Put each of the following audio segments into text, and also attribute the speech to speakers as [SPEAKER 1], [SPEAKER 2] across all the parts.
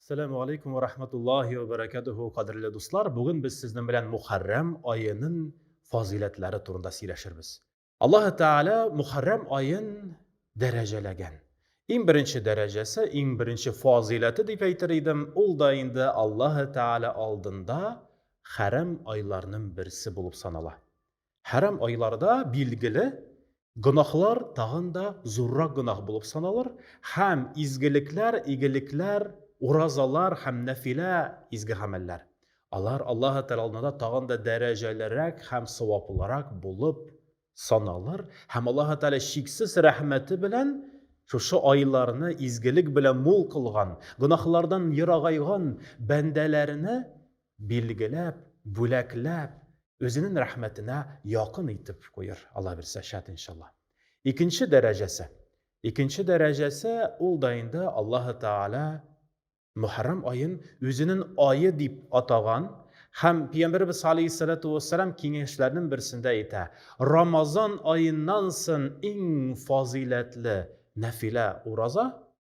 [SPEAKER 1] Сәләму алейкум ва рахматуллахи ва баракатуху, кадерле дуслар. Бүген без сезнең белән Мухаррам аенын фазыйләтләре турында сөйләшербез. Аллаһ Тәгалә Мухаррам аен дәрәҗәләгән. Иң беренче дәрәҗәсе, иң беренче фазыйләте дип әйтер идем, ул да инде Аллаһ Тәгалә алдында хәрам айларның берсе булып санала. Хәрам айларда билгеле гөнаһлар тагын да зуррак гөнаһ булып саналыр һәм изгелекләр, игелекләр, уразалар һәм нәфилә изге гамәлләр. Алар Аллаһы Тәгалә алдында тагын да дәрәҗәлерәк һәм саваплырак булып саналыр һәм Аллаһы Тәгалә чиксез рәхмәте белән шушы айларны изгелек белән мул кылган, гөнаһлардан ерагайган бәндәләренә Билгеләп, бүләкләп, үзенең рәхмәтенә якын итеп куер, Алла бирсә, шат иншалла. Икенче дәрәҗәсе. Икенче дәрәҗәсе ул да инде Аллаһы Тааля Мөхәррам аен үзенең айы дип атаган һәм Пәйгамбәрбез алейһиссалату вассалам киңәшләренең берсендә әйтә, Рамазан аеннан сон иң фазыйләтле нәфилә ураза,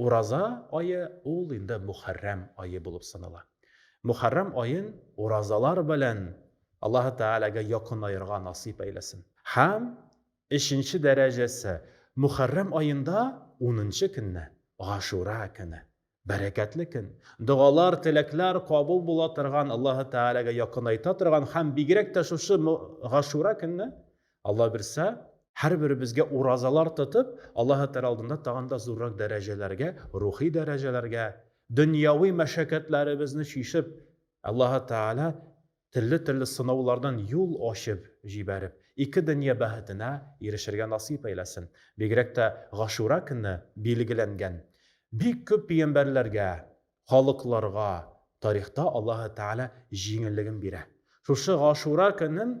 [SPEAKER 1] Ураза ае ул инде Мөхәррәм ае булып санала. Мөхәррәм аен уразалар белән Аллаһы Тәгаләгә якынаерга насыйп әйләсен. Һәм өченче дәрәҗәсе, Мөхәррәм аенда унынчы көнне, Гашура көне. Бәрәкәтле көн, догалар, теләкләр кабул була торган, Аллаһы Тәгаләгә якынайта торган һәм бигрәк тә шушы Гашура көнне Алла бирсә, һәрберебезгә уразалар тотып, Аллаһы Тәгалә алдында тагын да зуррак дәрәҗәләргә, рухи дәрәҗәләргә, дөньяви мәшәкатьләребезне чишеп, Аллаһы Тәгалә төрле-төрле сынаулардан юл ачып җибәреп, ике дөнья бәхетенә ирешергә насыйп әйләсен. Бигрәк тә Гашура көне билгеләнгән бик күп пигамбәрләргә, халыкларга тарихта Аллаһы Тәгалә җиңеллеген бирә. Шушы Гашура көнен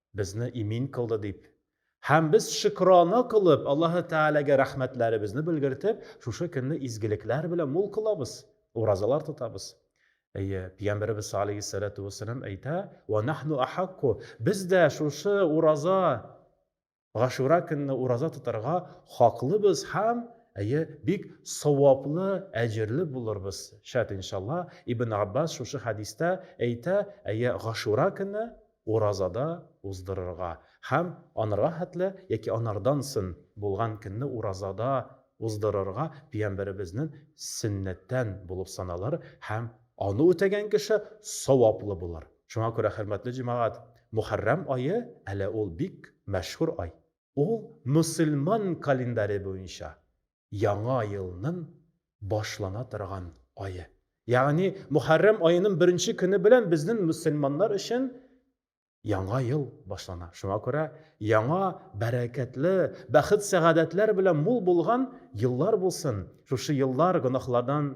[SPEAKER 1] безне имин кылды дип, һәм без шөкрана кылып, Аллаһы Тәгаләгә рәхмәтләребезне белгертеп, шушы көнне изгелекләр белән мул кылабыз, уразалар тотабыз. Әйе, Пәйгамбәребез алейһиссәләтү вәссәлам әйтә, «Ва нахну ахакку» Без дә шушы ураза, Гашура көнне ураза тотарга хаклыбыз һәм әйе, бик саваплы, әҗерле булырбыз. Шәт иншалла. Ибн Аббас шушы хәдистә әйтә, әйе, Гашура көнне Уразада уздырырга һәм анырга хәтле яки анардан сон булган көнне уразада уздырырга пиямбәребезнен сөннәттән булып саналыр һәм аны үтәгән кеше саваплы булыр. Шуңа күрә, хөрмәтле җәмәгать, Мөхәррәм ае, әле ул бик мәшһүр ай. Ул мөселман календаре буенча яңа елнын башлана торган ае. Ягъни Мухаррам аенын беренче көне белән безнен мөселманнар өчен яңа ел башлана. Шуңа күрә яңа бәрәкәтле, бәхет-сәгадәтләр белән мул булган еллар булсын. Шушы еллар гөнаһлардан